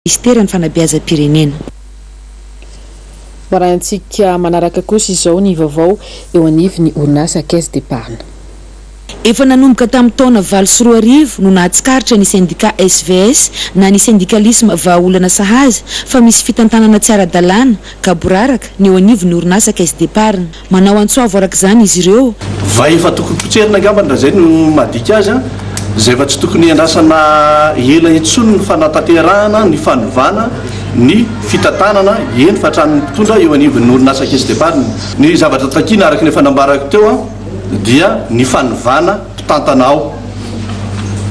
Minisiteran'ny Fanabeazam-pirenena. Maraintsika manaraka kosa izao ny vaovao eo anivon'ny orinasa Caisse d'Epargne. Efa nanomboka tamin'ny taona valo sy roa arivo no nahatsikaritra ny sendika SVS na ny sendikalisma vahaolana sahaza fa misy fitantanana tsy ara-dalàna, gaboraraka, ny eo anivon'ny orinasa Caisse d'Epargne. Manao antsoavo araka izany izy ireo. Vay efa tokony potserina angambany raha izay no madika azy an! Izay efa tsy tokony hiandrasana ela intsony ny fanatanterahana ny fanovana ny fitantanana, eny fa hatramin'ny mpitondra eo anivon'ny orinasa Caisse d'Epargne. Ny zavatra takiana araka ny efa nambarako teo an! dia ny fanovana mpitantana ao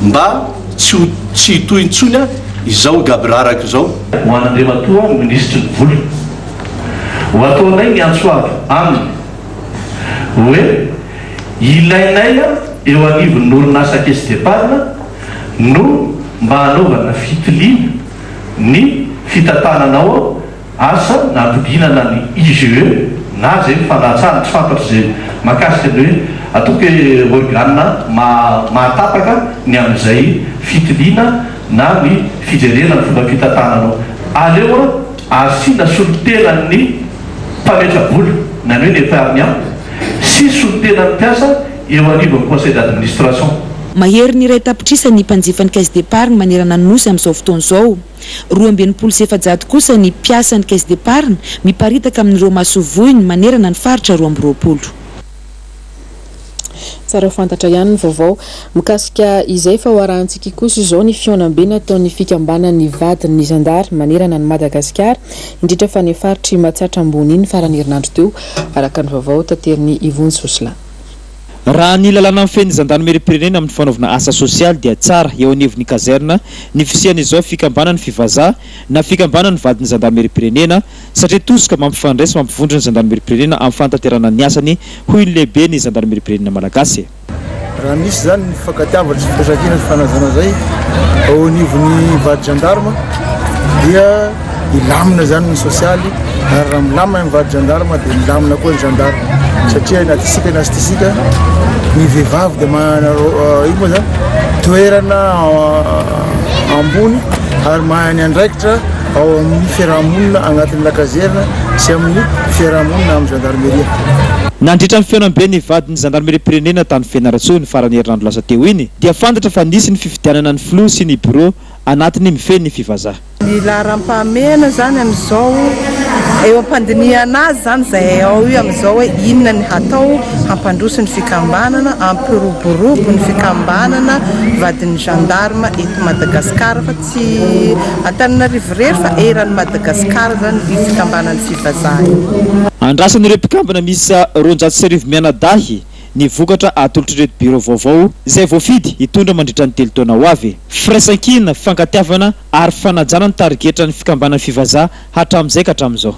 mba tsy ho tsy hitohy intsony an! izao gaboraraka izao. Ho an'Andriamatoa Minisitry ny Vola. Ho ataonay ny antso avo aminy hoe ilainay eo anivon'ny orinasa Caisse d'Epargne no mba hanaovana fitiliana ny fitantanana ao asa na ampidinana ny IGE na izay ny fanatsahana. Tsy fantatro izay mahakasika ny hoe ataoko hoe organe mahatapaka ny amin'izay fitiliana na ny fijerena ny fomba fitantanana ao. Aleo. Asiana solontenan'ny mpametra-bola, na ny hoe ny epargnant, sy solontenan'ny mpiasa eo anivon'ny Conseil d'administration. Mahery ny iray tapitrisa ny mpanjifa ny Caisse d'Epargne manerana ny Nosy amin'izao fotoana izao. Roa amby enimpolo sy efajato kosa ny mpiasan'ny Caisse d'Epargne miparitaka amin'ireo masoivohony manerana ny faritra roa amby roapolo. Tsara fantatra ihany ny vaovao mikasika izay fa ho arahantsika kosa izao ny fihaonambe nataon'ny fikambanan'ny vadin'ny zandary manerana an'i Madagasikara, indrindra fa ny faritr'i Matsatra Ambony iny faran'ny herinandro teo, araka ny vaovao taterin'i Yvonne Soslin. Raha ny lalàna mifehy ny zandarimeriam-pirenena amin'ny fanaovana asa sosialy dia tsara eo anivon'ny kazerna ny fisian'izao fikambanan'ny fivazaha na fikambanan'ny vadin'ny zandarimeriam-pirenena, satria tosika mampifandray sy mampivondro ny zandarimeripirenena amin'ny fanatanterahana ny asany, hoy ny lehiben'ny zandarimeripirenena malagasy. Raha nisy izany ny fifankatiavana sy firaisankina sy fanajana izay ao anivon'ny vady gendarme dia hilamina izany ny sosialy ary raha milamina ny vady gendarme dia milamina koa ny gendarme satria na tisika na tsy tisika ny vehivavy dia manana ino moa izany toerana ambony ary mahay ny andraikitra ao amin'ny fiaraha-monina anatin'ny lakazerina sy amin'ny fiaraha-monina amin'ny zandarimeria. Nandritra ny fihaonambe ny vadin'ny zandarimeriam-pirenena tany Fianarantsoa ny faran'ny herinandro lasa teo iny dia fantatra fa nisy ny fifidianana ny filoha sy ny birao anatiny mifehy ny fivazaha. Ny laharam-pahamehana izany amin'izao, eo am-pandinihana azy izany izay ao io amin'izao hoe inona ny hatao hampandroso ny fikambanana, hampiroborobo ny fikambanana vadin'ny gendarme eto Madagasikara. Tsy Antananarivo irery fa eran'i Madagasikara izany io fikambanan'ny fivazaha io. Andrasan'ireo mpikambana miisa roanjato sy arivo mianadahy ny vokatra atolotr'ireto birao vaovao izay voafidy hitondra mandritra ny telo taona ho avy. Firaisankina, fankatiavana ary fanajana ny tarigetran'ny fikambanan'ny fivazaha hatramin'izay ka hatramin'izao.